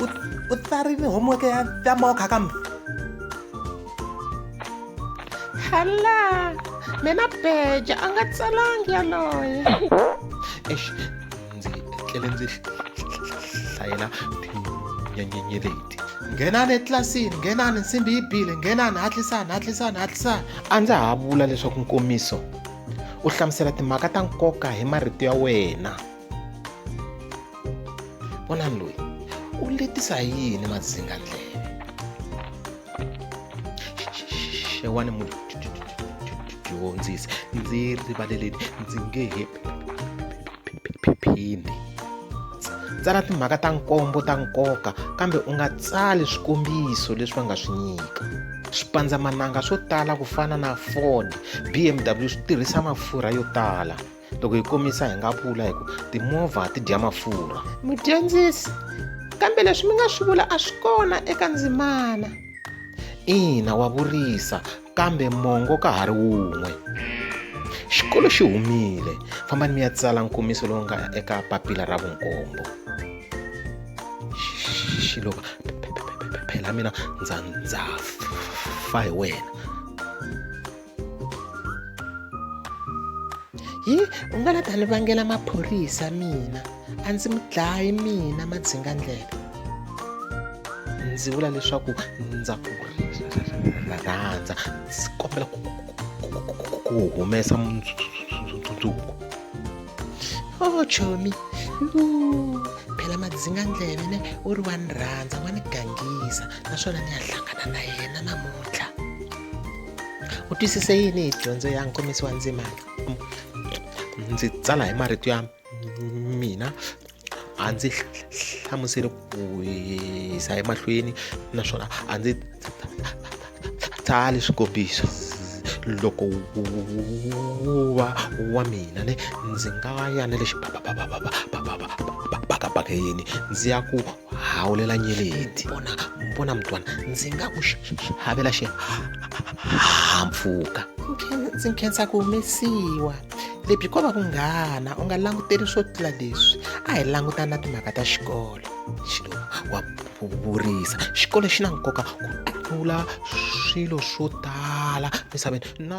u, u tsarile homework ya ya mokha kambe hala mina beja a nga tsalangi yaloye eish ndzi tlele ndzi hlayela tinyenyenye leti nghenani etlilasini nghenani nsimbi yi bile nghenani hatlisani hatlisani hatlisani a ndza ha vula leswaku nkomiso u hlamusela timhaka ta nkoka hi marito ya wena vonani loyi u letisa hi yini madzinga ndleve xewani mudyondzisi ndzi rivaleleni ndzi nge he phindi tsala timhaka ta nkombo ta nkoka kambe u nga tsali swikombiso leswi va nga swi nyika swipandzamananga swo tala ku fana na ford bmw swi tirhisa mafurha yo tala loko hi komisa hi nga vula hi ku timovha ti dya mafurha mudyondzisi kambe leswi mi nga swi vula a swi kona eka ndzimana ina wa vurisa kambe mongo ka ha ri wun'we xikolo xi humile fambani mi ya tsala nkomiso lowu nga eka papila ra vunkombo xilova phela mina ndza ndza fa hi wena hi u nga la ta ni vangela maphorisa mina a ndzi mi dlayi mina madzinga ndlela ndzi vula leswaku ndza ku rhandza ndzi kombela ku humesa mundzuku o oh, chomi phela madzinga ndleve ne u ri wa ni rhandza wa ni gangisa naswona ni ya hlangana na yena namuntlha u twisise yini hi dyondzo ya nkomiso wa ndzimana ndzi tsala hi marito ya mina a ndzi hlamuseli ku hisa emahlweni naswona a ndzi tsali swikombiso loko wu va wa mina ne ndzi nga ya na le xibakabakeni ndzi ya ku hawulela nyeleti bona bona mntwana ndzi nga ku havela xihahampfhuka ndzi nkhensa ku humesiwa lebyi ko va ku nghana u nga languteli swo tlula leswi a hi langutana na timhaka ta xikolo xilo wa vurisa xikolo xi na nkoka ku tlula swilo swo tala misaveni na